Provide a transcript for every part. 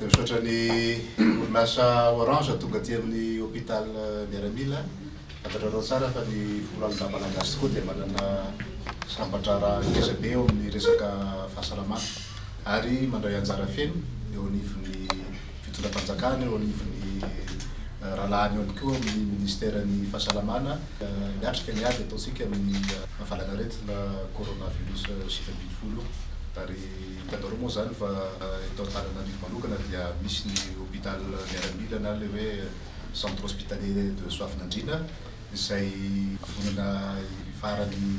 Misaotra ny orinasa Orange tonga aty amin'ny Hôpital Miaramila. Fantatrareo tsara fa ny folo alina Malagasy tokoa dia manana sampan-draharaha ngeza be eo amin'ny resaka fahasalamana ary mandray anjara feno eo anivon'ny fitondram-panjakana, eo anivon'ny rahalahiny ihany koa amin'ny Ministeran'ny Fahasalamana miatrika ny ady ataontsika amin'ny fahavalana aretina Coronavirus sivy ambin'ny folo. Hitanareo moa izany fa eto Antananarivo manokana dia misy ny hôpital miaramila na ilay hoe Centre Hospitalier de Soavinandriana izay vonona hifaharan' ny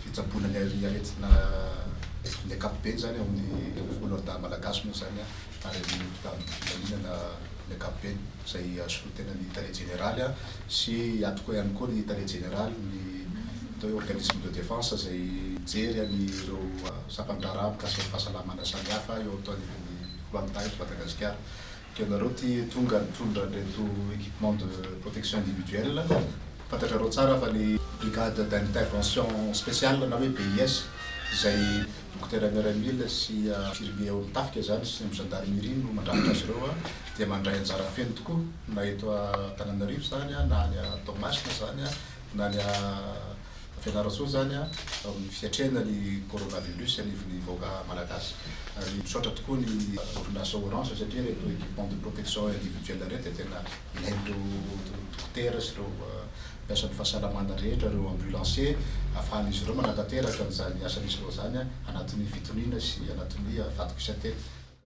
fitsaboana ny aretina ny ankapobeny izany ao amin'ny folo andahy malagasy moa izany ary amin'ny hôpital Filaminana ny ankapobeny. izay azoko tena ny tale jeneraly an, sy atoko ihany koa ny tale jeneraly ny atao hoe organisme de defense izay mijery an' ireo sampan-draharaha mikasika ny fahasalamana samy hafa eo ato anivon'ny kolanta eto Madagasikara. Dia ianareo ity tonga nitondra an'ireto equipement de protection individuelle, fantatrareo tsara fa ny brigade d'intervention speciale na hoe BIS izay dokotera miaramila sy infirmier ao amin'ny tafika izany sy ny gendarmerie no mandrafitra azy ireo an, dia mandray anjara feno tokoa na eto Antananarivo izany na any Toamasina izany na any Fianarantsoa izany amin'ny fiatrehana ny coronavirus anivon'ny vahoaka malagasy. Ary misaotra tokoa ny orinasa Orange satria ireto equipements de protection individuelle ireto dia tena ilain'ireo dokotera sy ireo mpiasan'ny fahasalamana rehetra, ireo ambulanciers, ahafahan'izy ireo manatanteraka an'izany asa misy ireo izany anatin'ny fitoniana sy anatin'ny fadokisan-tena.